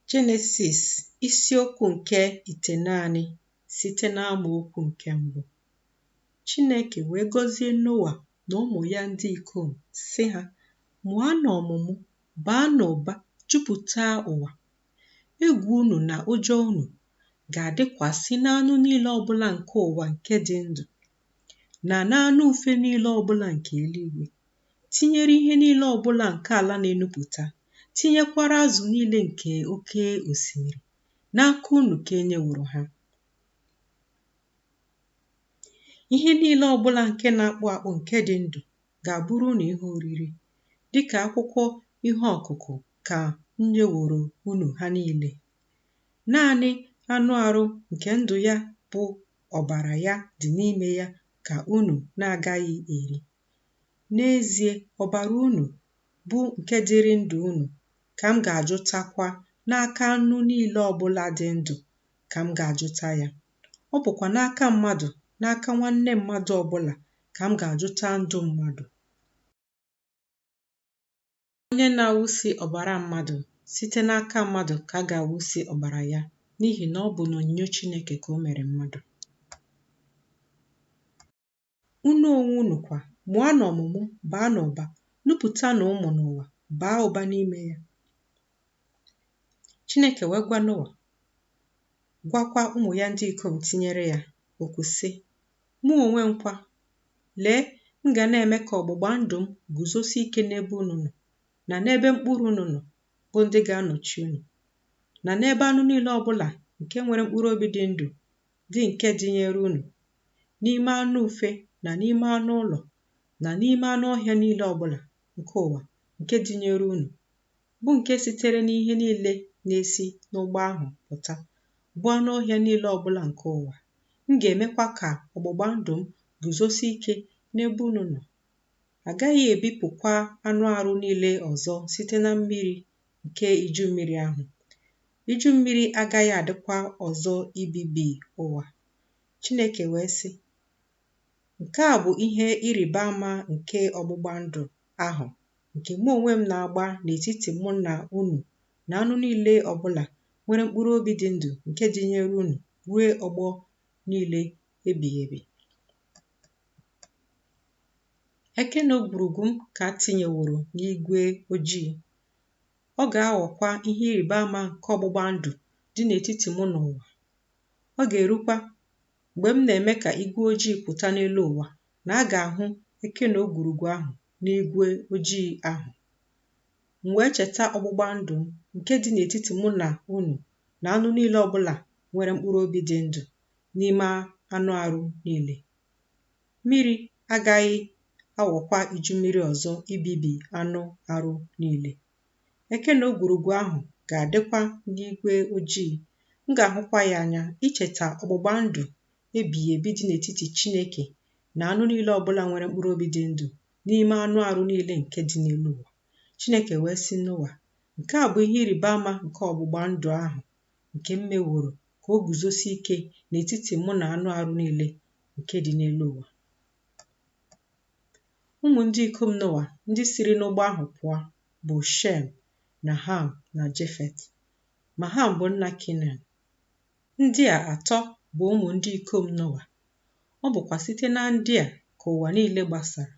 Jenesis isiokwu nke itenaanị site n'amaokwu nke mbụ. Chineke wee gọzie Noa na ụmụ ya ndị ikom sị ha, mụanụ ọmụmụ, baanụ ụba, jupụta ụwa. Egwu unu na ụjọ unu ga-adịkwasị n'anụ niile ọbụla nke ụwa nke dị ndụ na n'anụ ufe niile ọbụla nke eluigwe. tinyere ihe niile ọbụla nke ala na-enupụta, tinyekwara azụ niile nke oke osimiri, n'aka unu ka e nyeworo ha. Ihe niile ọbụla nke na-akpụ akpụ nke dị ndụ ga-abụrụ unu ihe oriri, dịka akwụkwọ ihe ọkụkụ ka m nyeworo unu ha niile. Naanị anụ arụ nke ndụ ya bụ ọbara ya dị n'ime ya ka unu na-agaghị eri. N'ezie, ọbara unu, bụ nke dịrị ndụ unu, ka m ga-ajụtakwa n'aka anụ niile ọbụla dị ndụ ka m ga-ajụta ya. Ọ bụkwa n'aka mmadụ, n'aka nwanne mmadụ ọbụla ka m ga-ajụta ndụ mmadụ. Onye na-awụsi ọbara mmadụ, site n'aka mmadụ ka a ga-awụsi ọbara ya, n'ihi na ọ bụ n'onyinyo Chineke ka o mere mmadụ. Unu onwe unu kwa, mụanụ ọmụmụ, baanụ ụba, nupụtanụ ụmụ n'ụwa, baa ụba n'ime ya. Chineke wee gwa Noa, gwakwa ụmụ ya ndị ikom tinyere ya okwu sị, Mụ onwe m kwa, lee, m ga na-eme ka ọgbụgba ndụ m guzosi ike n'ebe unu nọ, na n'ebe mkpụrụ unu nọ, bụ ndị ga-anọchi unu, na n'ebe anụ niile ọbụla nke nwere mkpụrụ obi dị ndụ dị nke dịnyere unu n'ime anụ ufe na n'ime anụ ụlọ na n'ime anụ ọhịa niile ọbụla nke ụwa nke dịnyere unu, bụ nke sitere n'ihe niile na-esi n'ụgbọ ahụ pụta, bụ anụ ọhịa niile ọbụla nke ụwa. M ga-emekwa ka ọgbụgba ndụ m guzosi ike n'ebe unu nọ. A gaghị ebipụkwa anụ arụ niile ọzọ site na mmiri nke iju mmiri ahụ. Iju mmiri agaghị adịkwa ọzọ ibibi ụwa. Chineke wee sị, Nke a bụ ihe ịrịba ama nke ọgbụgba ndụ ahụ nke mụ onwe m na-agba n'etiti mụ na unu na anụ niile ọbụla nwere mkpụrụ obi dị ndụ nke dịnyere unu ruo ọgbọ niile ebighị ebi. Eke na ogwurugwu m ka m tinyeworo n'igwe ojii. Ọ ga-aghọkwa ihe ịrịba ama nke ọgbụgba ndụ dị n'etiti mụ na ụwa. Ọ ga-erukwa mgbe m na-eme ka igwe ojii pụta n'elu ụwa na a ga-ahụ eke na ogwurugwu ahụ n'igwe ojii ahụ. M wee cheta ọgbụgba ndụ m nke dị n'etiti mụ na unu na anụ niile ọ bụla nwere mkpụrụ obi dị ndụ n'ime anụ arụ niile. Mmiri agaghị aghọkwa iju mmiri ọzọ ibibi anụ arụ niile. Eke na ogwurugwu ahụ ga-adịkwa n'igwe ojii. M ga-ahụkwa ya anya icheta ọgbụgba ndụ ebighị ebi dị n'etiti Chineke na anụ niile ọ bụla nwere mkpụrụ obi dị ndụ n'ime anụ arụ niile nke dị n'elu ụwa. Chineke wee sị Noa, Nke a bụ ihe ịrịba ama nke ọgbụgba ndụ ahụ nke m meworo ka o guzosie ike n'etiti mụ na anụ arụ niile nke dị n'elu ụwa. Ụmụ ndị ikom Noa ndị siri n'ụgbọ ahụ pụọ bụ Shem na Ham na Jefet. Ma Ham bụ nna Kenan. Ndị a atọ bụ ụmụ ndị ikom Noa. Ọ bụkwa site na ndị a ka ụwa niile gbasara.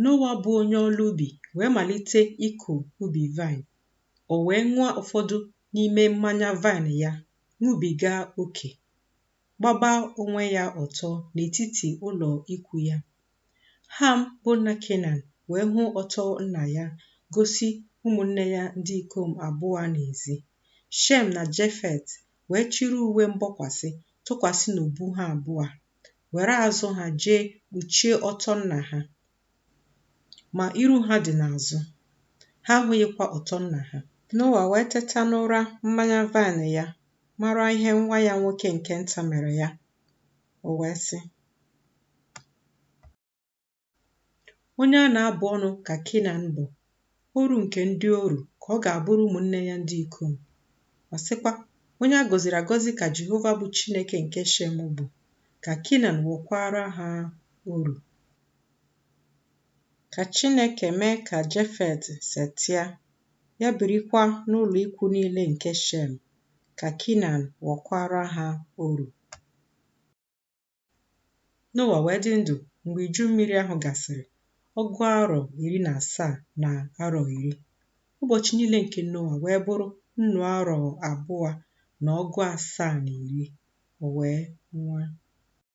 Noa bụ onye ọlụ ubi wee malite ịkụ ubi vine. O wee ṅụọ ụfọdụ n'ime mmanya vine ya, ṅụbiga oke. gbaba onwe ya ọtọ n'etiti ụlọ ikwu ya. Ham bụ nna Kenan wee hụ ọtọ nna ya gosi ụmụnne ya ndị ikom abụọ n'ezi. Shem na Jefet wee chịrị uwe mgbokwasị tụkwasị n'ubu ha abụọ, were azụ ha jee kpuchie ọtọ nna ha. Ma iru ha dị n'azụ, ha ahụghịkwa ọtọ nna ha. Noa wee teta n'ụra mmanya vine ya mara ihe nwa ya nwoke nke nta mere ya, o wee sị. Onye a na-abụ ọnụ ka Kenan bụ. oru nke ndị oru ka ọ ga-abụrụ ụmụnne ya ndị ikom. Ọ sịkwa, Onye a gọziri agọzi ka Jehova bụ Chineke nke Shem bụ, ka Kenan ghọkwaara ha oru. Ka Chineke mee ka Jefet setịa, ya birikwa n'ụlọ ikwu niile nke Shem, ka Kenan ghọkwaara ha oru. Noa wee dị ndụ mgbe iju mmiri ahụ gasịrị, ọgụ arọ iri na asaa na arọ iri. Ụbọchị niile nke Noa wee bụrụ nnụ arọ abụọ na ọgụ asaa na iri, o wee nwụọ.